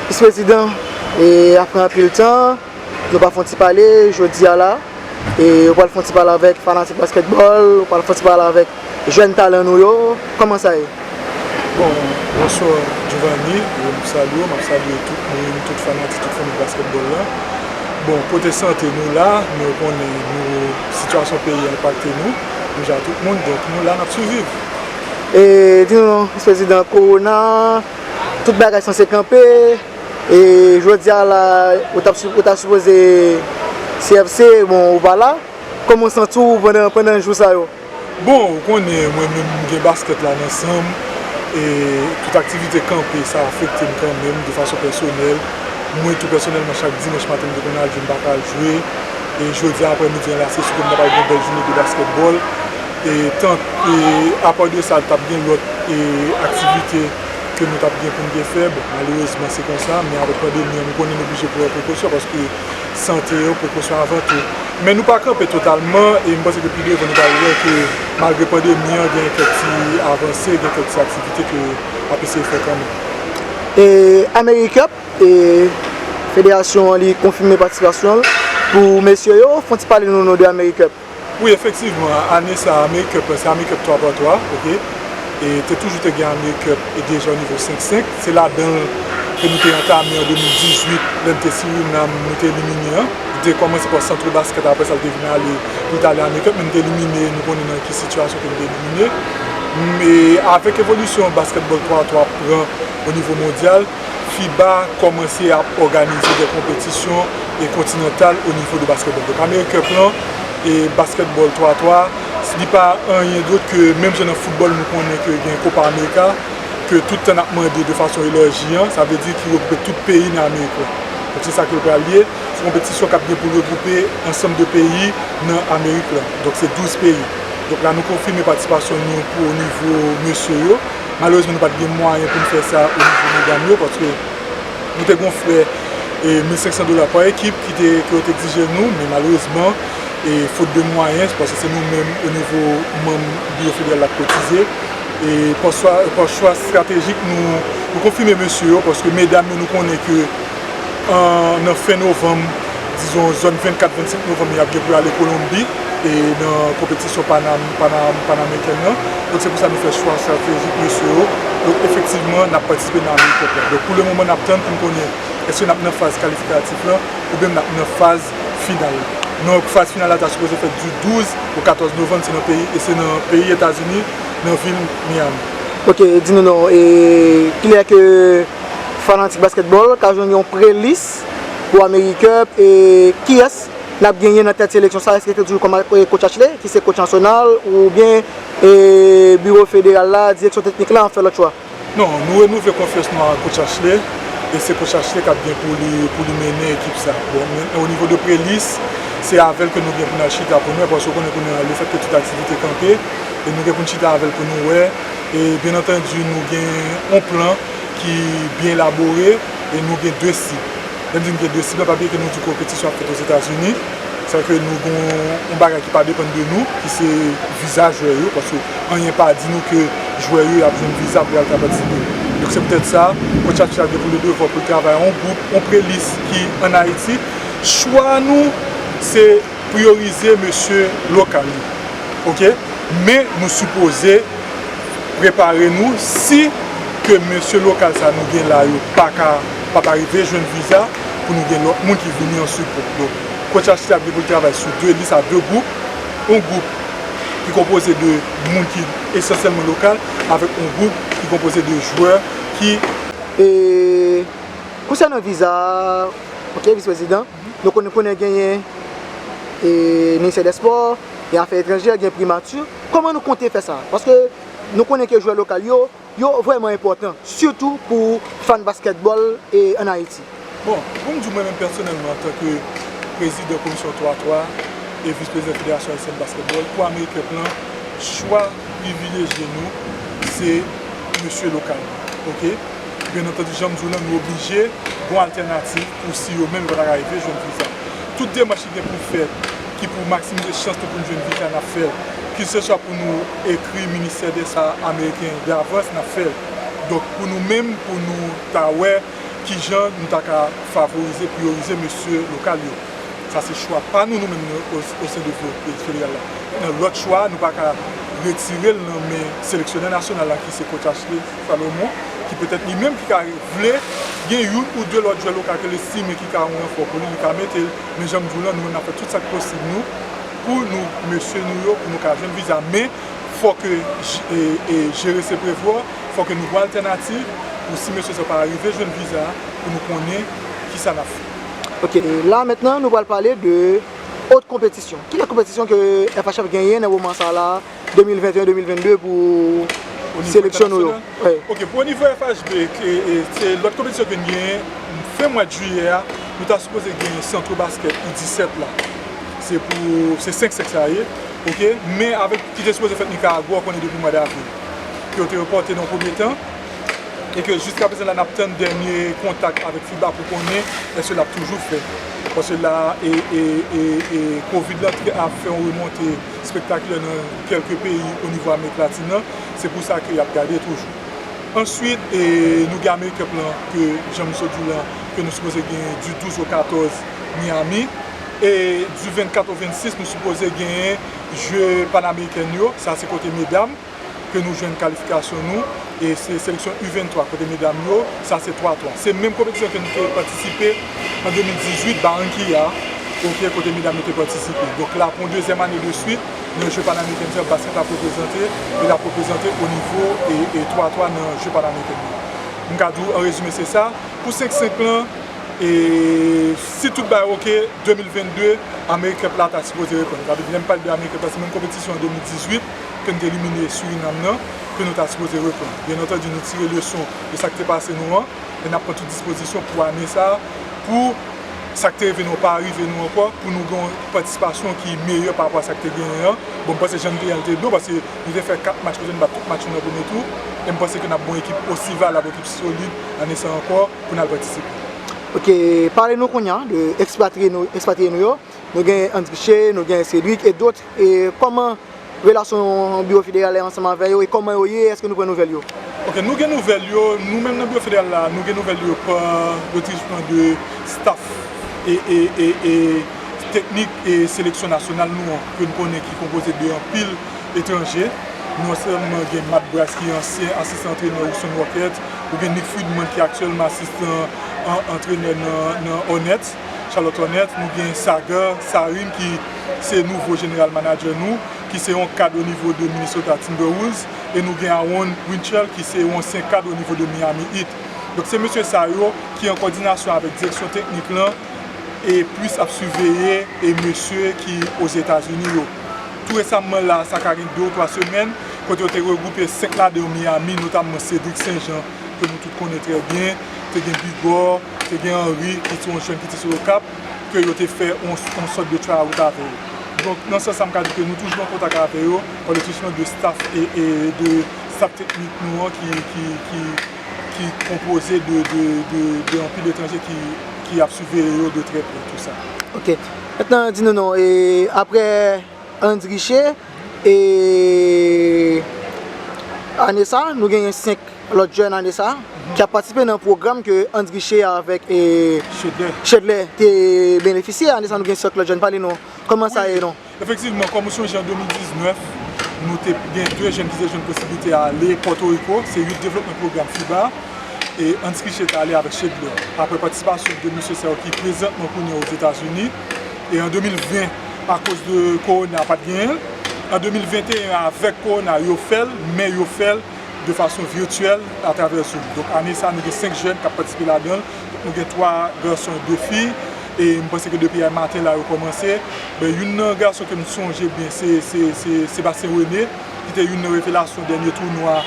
Mis prezidan, e apre anpil tan, nou pa fon ti pale jodi a la, e ou pral fon ti pale avèk fanatik baskètbòl, ou pral fon ti pale avèk jèn talan nou yo, kòman sa ye? Bon, bonswa Duvanie, m salye w, m ap salye tout moun, tout fanatik, tout fanmi baskètbòl la. Bon, kote sante nou la, nou konnen nou sitiyasyon peyi a enpakte nou, menja tout moun, donk nou la n ap siviv. E di nou non Miss President Corona tout bagay sanse kanpe e jodi a la ou tap ou ta sipoze CFC bon ou pa la Koman ou santi w pandan pandan jou sa yo? Bon ou konnen mwen menm m gen basket la nan san m e tout aktivite kanpe sa afekte m kanmenm de fason pèsonèl mwen tou pèsonèlman chak dimanch maten m te konn al jwe m paka al jwe e jodi a aprè midi an la se si ke m ta pral gen bèl joune de basketball. Tank apa de sa tap gen lòt aktivite ke nou tap gen pou nou te fè, bon malerezman se konsa men avèk pandemi an nou konnen nou oblije pran prekosyon paske sante yo prekosyon avan tou. Men nou pa kanpe totalman e m panse ke pi devan nou pral wè ke malgre pandemi an gen kèk ti avanse, gen kèk ti aktivite ke ap eseye fè kanmenm. Americup, federasyon an li konfime patisipasyon l pou mesye yo, fon ti pale nou de Americup. Wi efektivman ane sa americup lan se americup 3 par 3 ok e te toujou te gen americup e deja o nivo 5 5 se ladanl ke nou te antame an 2018 lè nou te Suriname nou te elimine an li te kòmanse par centre basket aprè sa li te vin ale pou li tale americup men nou te elimine nou konnen nan ki sitiyasyon ke nou te elimine m e avèk evolisyon basketball 3 a 3 ap pran o nivo mondyal FIBA kòmanse ap òganize de konpetisyon e kontinantal o nivo de baskètbòl. Donk American Cup lan e baskètbòl 3 a 3, li pa anyen dot ke menm jan nan foutbòl nou konnen ke gen Copa America ke tout tan nap mande de fason elèji an, sa vle di ki regwoupe tout peyi nan Amerik lan. Donk se sa ke l pral ye, se konpetisyon kap gen pou l regwoupe ansanm de peyi nan Amerik lan. Donk se 12 peyi. Donk la nou konfime patisipasyon nou pou o nivo mesye yo. Malerezman nou pat gen mwayen pou nou fè sa o nivo medam yo paske nou te gen yon frè 1500 dola pa ekip ki te ke yo te egzije nou men malerezman e fot de mwayen paske se nou menm o nivo manm biwo federal lap kotize e pa chwa estratejik nou konfime mesye yo paske medam yo nou konnen ke nan fen novanm, dizon zòn 24, 25 novanm y ap gen pou y ale Kolonbi nan konpetisyon panameriken nan. Donk se pou sa nou fè chwa estratejik mesye yo. Donk efektivman n ap patisipe nan Amerik Kòp la. Donk pou le moman n ap tann pou n konnen èske n ap nan faz kalifikatif lan oubyen n ap nan faz final la. Donk faz final la ta sipoze fèt di 12 o 14 novanm se nan peyi Etazini nan vil Miyami. Ok, di nou non e kilè ke. Fanatik basketball ka jwenn yon pre-lis pou American Cup e kiyès nap genyen nan tèt seleksyon sa eske se toujou coach Achley ki se coach nasyonal ou byen biro federal la direksyon teknik la an fè lòt chwa? Non, nou renouvle konfyans nou a coach Achley e se coach Achley kap gen pou li mennen ekip sa. Bon men o nivo de pre-lis se avèl ke nou gen pou nal chita pou nou wè paske ou konnen kounye a le fèt ke tout aktivite kanpe e nou gen poun chita avèl pou nou wè E byen antandi nou gen yon plan ki byen elabore e nou gen 2 sib. Lè m di nou gen 2 sib la pa vle di ke nou di konpetisyon ap fèt Ozetazini. Sa ke nou gen yon bagay ki pa depann de nou ki se viza jwè yo paske anyen pa di nou ke jwè yo y ap jwenn viza pou y al ka patisipe. Donk se poutèt sa Kotch Satchi a gen pou li devwa pou l travay yon gwoup, yon prelis ki an Ayiti. Chwa nou se. Priorize mesye lokal yo ok men nou sipoze prepare nou si ke mesye lokal sa nou gen la yo paka pap arive jwenn viza pou nou gen lòt moun ki vini an sipò donk coach Ashley ap gen pou l travay sou 2 lis a 2 gwoup yon gwoup ki konpoze de moun ki esansyèlman lokal avèk yon gwoup ki konpoze de jwè ki. E konsènan viza ok visprezidan. Nou konn konnen genyen ministè dè spò, gen afè etranjè, gen primati. Kòman nou konte fè sa? Paske nou konnen ke jwè lokal yo, yo vrèman enpòtan. Sitou pou fan baskètbòl an Ayiti. Bon, pou m di w mwen menm pèsonèlman antanke prezidan komisyon 3 3 e vis prezidan federasyon ayisyèn de baskètbòl pou Americup lan, chwa privilejye nou se mesye lokal. Ok? Byen antandi jan m di w lan nou oblije gon altènativ pou si yo menm yo pa ta rive jwenn viza. Tout demach ki gen pou fèt ki pou maksimize chans nou pou nou jwenn viza n ap fè l. Kilseswa pou nou ekri ministè desa ameriken davans n ap fè l. Donk pou nou menm pou nou ta wè kijan nou ta ka favorize, priyorize mesye lokal yo. Sa se chwa pa nou nou menm osen de Vlot federal la. Lòt chwa a nou pa ka retire l nan men seleksyonè nasyonal la ki se Coach Ashley. Salomon, ki petèt li menm ki ka vle gen youn ou de lòt jwè lokal ke l estime ki ka yon ranfò pou li, li ka mete l. Men jan m di w lan, nou menm n ap fè tout sa k posib nou pou nou mesye nou yo pou nou ka jwenn viza. Men fò ke jere se prevwa, fò ke nou wè altènativ pou si mesye sa yo pa arive jwenn viza a, pou nou konnen ki sa n ap fè. Ok, la mentnan nou pral pale de ot konpetisyon. Kilè konpetisyon ke FHF genyen nan moman sa la 2021, 2022 pou seleksyon nou yo. Ok, pou onivo FHB, lòt konpetisyon ke n genyen, fen mwad jiyè a, nou ta sipoze genyen santro basket u 17 la. Se pou, se 5 sèks la ye. Ok, men avèk ki te sipoze fèt Nicaragua, ou konnen depi mwad avril, ke yo te repòte nan premye tan, e ke jiska prezan la n ap tann dènye kontak avèk fiba pou konnen èske l ap toujou fèt. Paske la, e, e, e, e, covid la ap fè yon remonte. Spektak yo nan kelke peyi o nivo Amerik Latin nan, se pou sa ke yap gade toujou. Answit, nou gen Amerik Cup lan ke jan misye di lan ke nou sipoze genyen di 12 o 14 Miami e di 24 o 26 nou sipoze genyen je Panameriken yo, sa se kote medam. ke nou jwenn kalifikasyon nou e se seleksyon U23 kote medam yo sa se 3 3 se menm konpetisyon ke nou te patisipe an 2018 Barranquilla ok kote medam yo te patisipe donk la pou dezyèm ane de swit nan je panameriken sa basket ap reprezante e lap reprezante o nivo e 3 3 nan je panameriken yo m ka di w an rezime se sa pou 5 5 lan e si tout bagay ok 2022 amerikep la ta sipoze reprann m ka di w lè m pale de amerikep la se menm konpetisyon an 2018. ke n te elimine Surinam nan ke nou ta sipoze repran. Byen antandi nou tire leson de sa k te pase nou an e n ap pran tout dispozisyon pou ane sa a pou sa k te rive nou an pa rive nou ankò, pou nou gen yon patisipasyon ki meyè pa rapò a sa k te genyen an. Bon m panse jan n te ye an l te byen paske nou te fè 4 match kote n bat tout match nou nan premye tou e m panse ke n ap gon ekip osi valab, ekip solid ane sa a ankò pou n al patisipe. Ok, pale nou kounye a de ekspatriye nou yo. Nou gen Andriche, nou gen Cedric et d'autres e kòman relasyon Biwo Federal la ansanm avè yo e kòman yo ye, èske nou pran nouvèl yo? Ok, nou gen nouvèl yo, nou menm nan Biwo Federal la, nou gen nouvèl yo pa le truchement de staff e teknik e seleksyon nasyonal nou an ke n konnen ki konpoze de anpil etranje, non sèlman gen Matt Brice ki ansyen asistan antrenè Houston Rockets, ou gen Nick Friedman ki aktyèlman asistan antrenè nan Hornets. Charlotte Hornette, nou gen Sagar Sarin ki se nouvo General Manager nou, ki se yon kad o nivo de Minnesota Timberwolves, e nou gen Aaron Winchell ki se yon ansyen kad o nivo de Miami Heat. Donk se mesye sa yo ki an kòdinasyon avèk direksyon teknik lan e plis ap siveye e mesye ki Ozetazini yo. Tou resamman la a, sa ka gen 2 ou 3 semèn, kote yo te regwoupe 5 ladan yo Miami, notamman Cedric St-Jean, ke nou tout konnen trè byen, te gen Bigor, te gen Henri ki se yon jèn ki te sot Okap, ke yo te fè yon sòt de try out avè yo. Donk, nan sans sa m ka di ke nou toujou an kontak avè yo, an le sousman de staff e de staff teknik nou an ki konpoze de anpil etranje ki ap siveye yo de trè pre tou sa. Ok. Mètnan di nou non, e aprè. Hans Richer e ane sa nou genyen 5 lòt jèn ane sa ki ap patisipe nan pwogram ke Hans Richer avèk Chedlè te benefisye ane sa nou gen 5 lòt jèn pale nou kòman sa ye non. Efektivman kòm ou sonje an 2019 nou te gen 2 jèn ki te jwenn posiblite ale Pòtoriko se Youth Development Program FIBA e Hans Richer te ale avèk Chedlè aprè patisipasyon 2 mesye sa yo ki prezantman kounye a Ozetazini. E an 2020 akoz de korona pat genyen l, an 2021 an avèk korona yo fè l men yo fè l de fason virtyèl atravè zoom. Donk ane sa nou gen 5 jèn kap patisipe ladan l, nou gen 3 gason e 2 fi e m panse ke depi ay maten la yo kòmanse. Ben youn nan gason ke m sonje byen se se Sébastien René ki te youn nan revelasyon dènye tounwa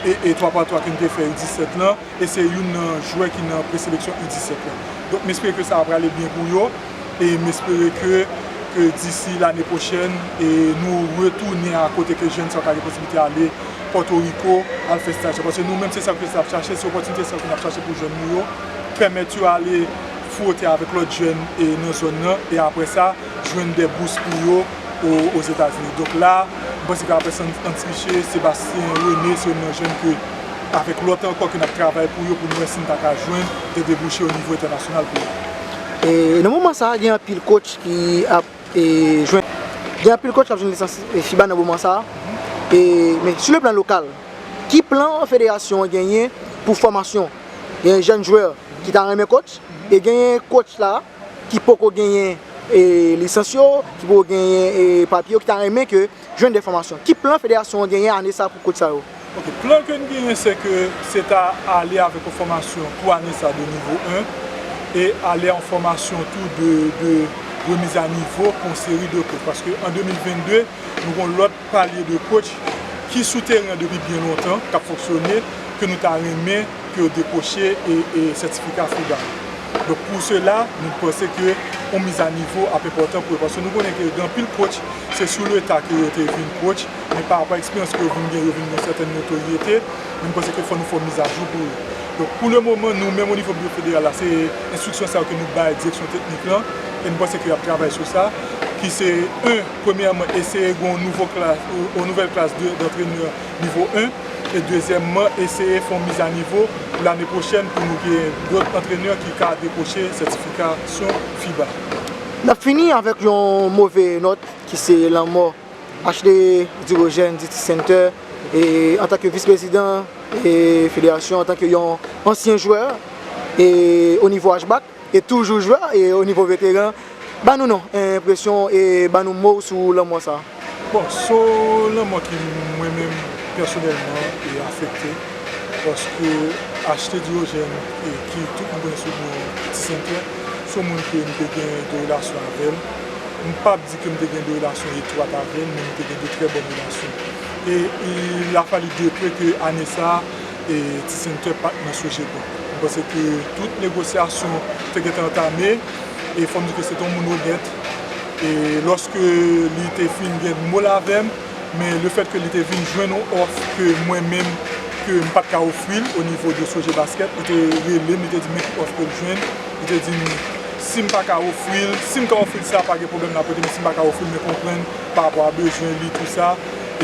e 3 pa 3 ke n te fè U17 lan e se youn nan jwè ki nan preseleksyon U17 lan. Donk m espere ke sa a prale byen pou yo. e m espere ke ke disi lane pwochèn nou retounen a kote ke jèn sa yo ka gen posiblite ale Pòtoriko al fè staj la paske nou menm se sa ke n ap chache se opòtinite sa yo ke n ap chache pou jèn nou yo pèmèt yo ale fwote avèk lòt jèn nan zòn nan e aprè sa jwenn dè bous pou yo Ozetazini donk la m panse ke aprè San Antriche Sebastien René se youn nan jèn ke avèk lòt ankò ke n ap travay pou yo pou nou wè si n ta ka jwenn dè debouche onivo entènasyonal pou yo. Nan moman sa a gen anpil kotch ki ap jwenn lisans fiba nan moman sa a. Men sou le plan lokal, ki plan federasyon an genyen pou fòmasyon? Gen jèn jwè ki ta renmen kotch e genyen kotch la ki poko genyen lisans yo, ki poko genyen papye yo ki ta renmen ke jwenn enfòmasyon. Ki plan federasyon an genyen ane sa pou kotch sa yo? Ok, plan ke n genyen se ke se ta ale avèk yon fòmasyon pou ane sa de nivo 1 e ale a yon fòmasyon tou de de remiz a nivo pou yon seri de kotch paske an 2022 nou gen yon lòt palye de kotch ki sou teren an depi byen lontan k ap fonksyone ke nou ta renmen ke yo dekwoche e sètifika FIBA yo. Donk pou sela nou panse ke yon miz a nivo ap enpòtan pou yo paske nou konnen ke gen anpil kotch Se sou leta ke yo te vin coach, men pa rapò a eksperyans ke yo vin gen, yo vin gen yon sèten notoryete, men nou panse ke fò nou fè yon mizajou pou yo. Donk pou le moman nou menm o nivo biwo federal la se enstriksyon sa yo ke nou bay direksyon teknik lan, e nou panse ke yap travay sou sa, ki se 1 premyèman eseye gen yon nouvo klas, yon nouvèl klas de dantrenè nivo 1, e dezyèmman eseye fè yon mizanivo pou lane pwochèn pou nou gen dòt antrenè ki ka dekwoche sètifikasyon fiba. N ap fini avèk yon move nòt ki se lanmò HD. Dirogène Diti Center antanke vis prezidan federasyon, antanke yon ansyen jwè o nivo HBAC e toujou jwè o nivo veteran. Ba nou non enpresyon e ba nou mo w sou lanmò sa. Bon so lanmò ki mwen menm pèsonèlman e afekte paske achte Diogèn e ki tout moun konnen sou non Ti Sentè son moun ke m te gen de relasyon avè l m pap di ke m te gen de relasyon etwat avè l men nou te gen de trè bòn relasyon e il a fallu de peu ke ane sa E ti senatè pat nan soje pou. Mwen panse ke tout negosyasyon te gentan antame e fòm di ke se te yon moun onèt e lòske li te fin gen mo l avè m men le fèt ke li te vin jwenn yon òf ke mwen menm ke m pat ka ofri l o nivo de soje baskèt li te rele m li te di m men ki òf ke l jwenn li te di m si m pa ka ofri l si m ka ofri l sa pa gen pwoblèm l ap rete men si m pa ka ofri l men konprann pa rapò a bezwen li tou sa.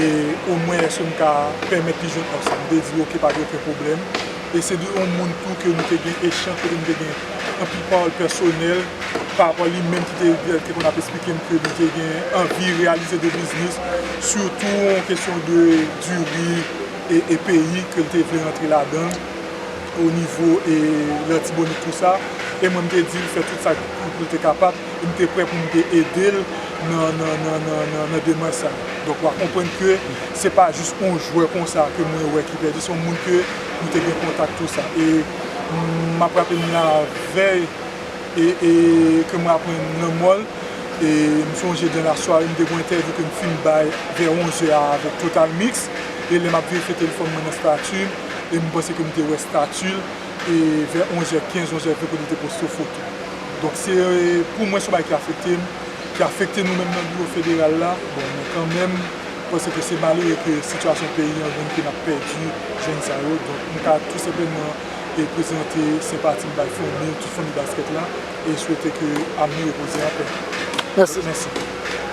E omwen eske m ka pèmèt li jwenn òf sa? M te di ok pa gen oken pwoblèm. E se de yon moun tou ke nou te gen echanj kote nou te gen anpil pawòl pèsonèl pa rapò li menm ki te konn ap esplike m ke li te gen anvi reyalize de biznis sitou yon kesyon de diri e peyi ke li te vle rantre ladan l o nivo e Latibonit tou sa. E mwen m te di l fè tout sa pou l te kapab. e m te prè pou m te ede l nan demach sa. Donk w a konprann ke se pa jis yon jwè konsa ke mwen wè ki pèdi, se yon moun ke nou te gen kontak tou sa. E m ap raple m la vèy e ke mwen aprann lanmò l, e m sonje dan la sware m te gen yon entèvyou ke m fin bay vè 11 zè a avèk Total Mix, e lè m ap verifye telefòn mwen nan stati m, e m panse ke m te wè stati l. E vè 11 è 15, 11 è 20 kote li te poste foto. Donk se pou mwen se yon bagay ki afekte m, ki afekte nou menm nan biwo federal la. Bon mwen kanmenm panse ke se malere ke sitiyasyon peyi an vin ke n ap pèdi jenn sa yo. Donk m ta tou senpleman prezante senpati m bay fanmi, tout fanmi baskèt la e swete ke Abner repoze an pè. Mèsi.